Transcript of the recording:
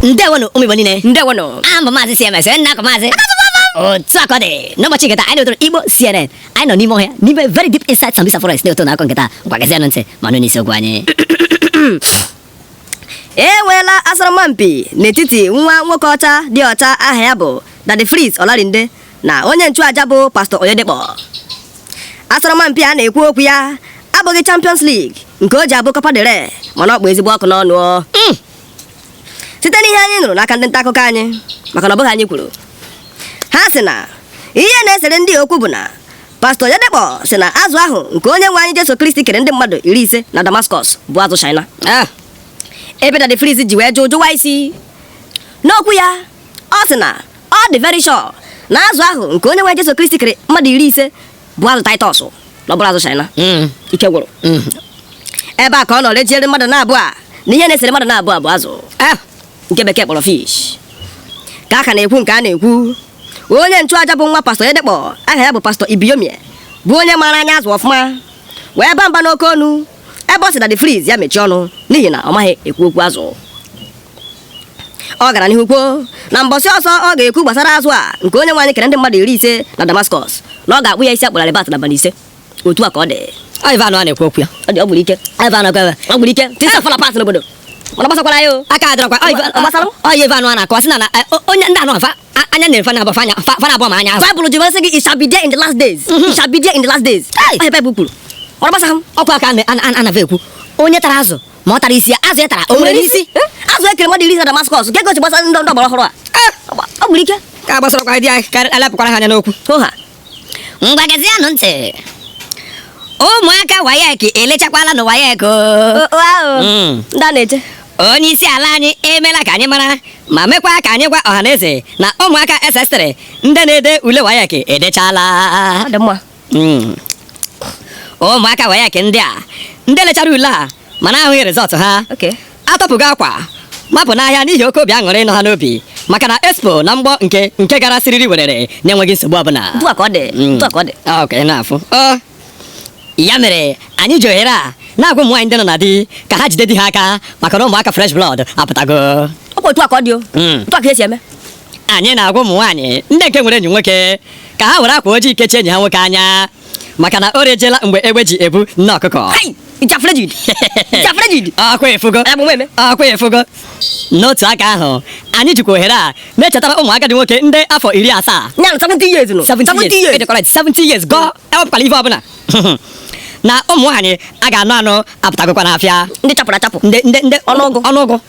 ndewonụ ụmụ Igbo niile ndewonụ aha m bụ maazị CMS onye na-akọ maazị otu a ka ọ dị n'ụbọchị nketa anyị na-ewetara Igbo CNN anyị nọ n'ime ọhịa n'ime very deep inside Sambisa forest na-eto na akọ nketa ngwa gezienụ ntị ma nụ n'isiokwu anyị enweela asọrọmpi n'etiti nwa nwoke ọcha dị ọcha aha ya bụ Daddy Freeze Olarinde na onye nchụaja bụ Pastor Oyedepo asọrọmpi a na-ekwu okwu ya abụghị Champions League nke o ji abụ Copa del Rey mana ọ kpụ ezigbo ọkụ n'ọnụ hmm. site n'ihe anyị nụrụ n'aka ndị nta akụkọ anyị maka na ọ bụghị anyị kwuru ha sị na ihe na-esere ndị a okwu bụ na Pastor Oyedepo sị na azụ ahụ nke onye nwe anyị Jesu Kristi kere ndị mmadụ iri ise na Damascus bụ azụ China ah. ebe Daddy Freeze ji wee jụ jụwa isi n'okwu ya ọ sị na Ọ dị very sure na azụ ahụ nke onye nwe Jesu Kristi kere mmadụ iri ise bụ azụ Titus na ọ bụrọ azụ China Mm, ike gwụrụ mm. ebe a ka ọ nọ rejiere mmadụ n'abụọ a na ihe na-esere mmadụ n'abụọ bụ azụ Ah, nke bekee kpọrọ fish ka a ka na-ekwu nke a na-ekwu onye nchụaja bụ nwa Pastor Oyedepo aha ya bụ Pastor Ibiyeomie bụ onye maara anya azụ ọfụma wee baa mba n'oke ọnụ ebe ọ sị Daddy Freeze ya mechie ọnụ n'ihi na ọ maghị ekwu okwu azụ ọ gara n'ihu kwuo na mbọsị ọzọ ọ ga-ekwu gbasara azụ a nke onye nwe anyị kere ndị mmadụ iri ise na Damascus na ọ ga-akpụ ya isi a kpụrụ Albert n'abalị ise otu a ka ọ dị ọ ive anwa a na-ekwu okwu ya ọ dị ọ gburu ike ive anwa ekwe ọ gburu ike things are fall apart n'obodo mana gbasakwara ya o aka adịrọkwa ọ ive anwa a na-akọwa sị na onye ndị anụ afa anya na-efe na-abụ fa n'abụọ ma anya azụ Bible ji sị gị it shall be there in the last days mm-hmm. it shall be there in the last days ọ ihe Bible kwuru ọ gbasa m ọkwa ka ana va ekwu onye tara azụ ma ọ tara isi ya azụ ya tara o nwere isi azụ e kere mmadụ iri ise na Damascus kee ka o si gbasara ndị ọgbara ọhụrụ a ọ gburu ike ka gbasarọkwa dị anyị ka alepụkwara ha anya n'okwu ngwa gezienụ ntị ụmụaka WAEC elechakwala na WAEC hmm. onye isi ala anyị emela ka anyị mara ma mekwa ka anyị gwa ọha na eze na ụmụaka SS3 ndị na-ede ule WAEC edechala hmm. ụmụaka WAEC ndị a ndị lechara ule a mana ahụghị result ha atọpụgo akwa mapụ n'ahịa n'ihi oke obi aṅụrị nọ ha n'obi maka na expo na mgbọ nke nke gara siriri werere na-enweghị nsogbu ọbụla Otu a ka ọ dị, Mm. otu a ka ọ dị. Ah, ok na-afụ Ọ, ya mere anyị ji ohere a na-agwa ụmụ nwaanyị ndị nọ na di ka ha jide di ha aka maka na ụmụaka fresh blood apụtago Ọ kwa otu a ka ọ dị o. Mm. Otu a ka e si eme. anyị na-agwa ụmụ nwaanyị ndị nke nwere enyi nwoke ka ha were akwa ojii kechie enyi ha nwoke anya maka na o rejela mgbe egbe ji ebu nne ọkụkọ Hai! Jafrejid. Jafrejid. Akwa efugo. Ebu m eme. Akwa efugo. N'otu aka ahụ, anyị jikwa ohere a na-echetara ụmụ agadi nwoke ndị afọ iri asaa. Ya na 70 years nụ. 70 years. Ede correct, 70 years gọọ ewepụkwala ife ọbụla. Na ụmụ nwaanyị a ga-anụ anụ apụtagokwa n'afịa. Ndị chapụrụ achapụ. Ndị ndị ndị Ọnụọgụ. ọnụọgụ.